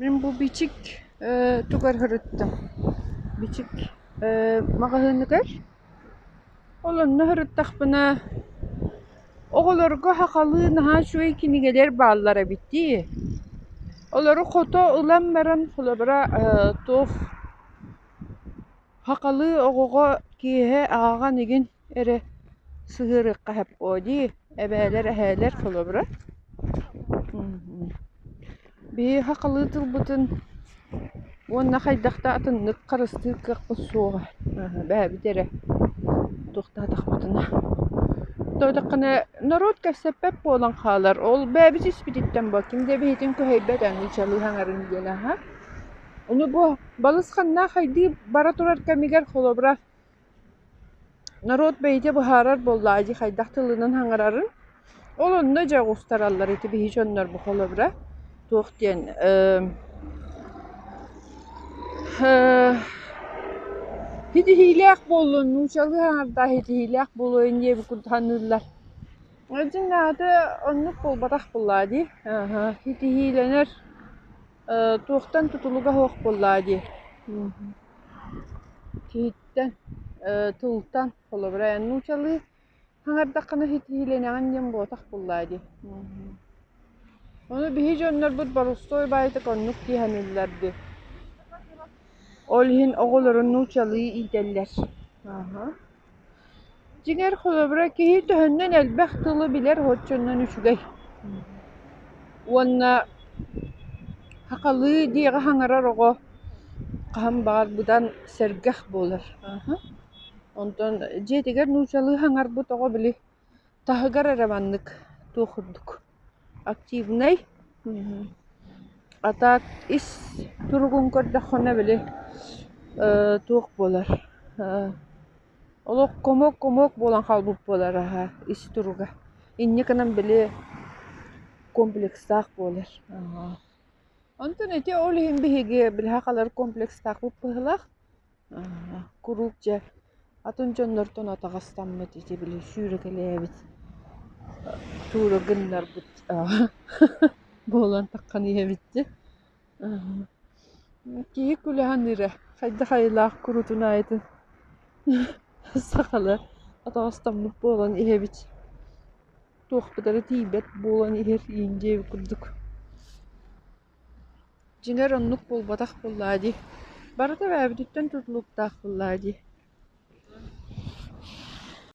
Мин бу бичик ээ тугар сырыттым? Бичик ээ маҕаһыыныгар. Ол онно сырыттахпына оҕолорго сахалыы наһаа үчүгэй кинигэлэр бааллар эбит дии. Олору хото ылан баран холобура ээ туох Хахалыы оҕоҕо киэһэ ааҕан игин эрэ сыһыарыахха сөпкө дии, эбээлэр, эһээлэр холобура. Биһиги хахалыы тылбытын уонна хайдах да атыннык харыстыыр кыахпыт суоҕа. Эбээбит эрэ утуктаатахпытына. Даҕатаххына норуот кэпсэппэт буолан хаалар. Ол бэйэбит испититтэн бу ким да эбиһитин кыһыйбат эҥин чалыы саҥарын диэн аһа. Ону бу балысханнаах хайдыы бара турар кэмигэр, холобура, норуот бэйэтэ быһаарар буоллаҕа дии, хайдах тылынан хаҥарарын. Ол онно дьэ оҕустараллар ити биһиги дьоннор бу холобура. Туох диэн, эм, э, ситиһиилээх буоллун, нуучалыы аҥардаах ситиһиилээх буолуойун диэбит курдук саныыллар. Дьин аата оннук буолбатах буоллаҕа дии. Аха, ситиһиилэнэр. Э, туохтан тутулуга суох буоллаа дии. Мгм. Киһиттэн, э, тылтан, холобура, эн нуучалыы хаҥардаххына хитиһиилэнэҕин диэн буотах буоллаа дии. Мгм. Ону биһи дьоннорбут борустуой баайтык оннук дии саныыллар дии. Ол иһин оҕолору нуучалыы иитэллэр. Аха. Дьиҥэр, холобура, киһи төһөннөн элбэх тылы билэр отчуоннан үчүгэй. Уонна хахалыы диэҕи хаҥарар оҕо хаһан баҕар быдан сэргэх буолар. Онтон дьиэтигэр нуучалыы хаҥарбыт оҕо били Таһыгар эрэ маннык туох курдук активнай, а так ис туругун көрдөххүнэ били туох буолар олох комок-комок буолан хаалбыт буолар аһа ис туруга. Инникинэн били комплекстаах буолар. Онтон ити ол иһин биһиги билиһэ халар комплекстаахпыт быһыылаах. куруук дьэ атын дьоннортон атаҕастаммыт ити били сүүрэкэлээбит туура гыннарбыт буолан таххан иһэбит дии киһи кулэһин эрэ хайдах айылаах куруутун аайытын сахалар атаҕастаммыт буолан иһэбит туохпутара тиийбэт буолан иһэр иин диэби курдук Дьиҥэр, оннук буолбатах буоллаҕа дии, барыта эбэбититтэн тутулуктаах буоллаҕа дии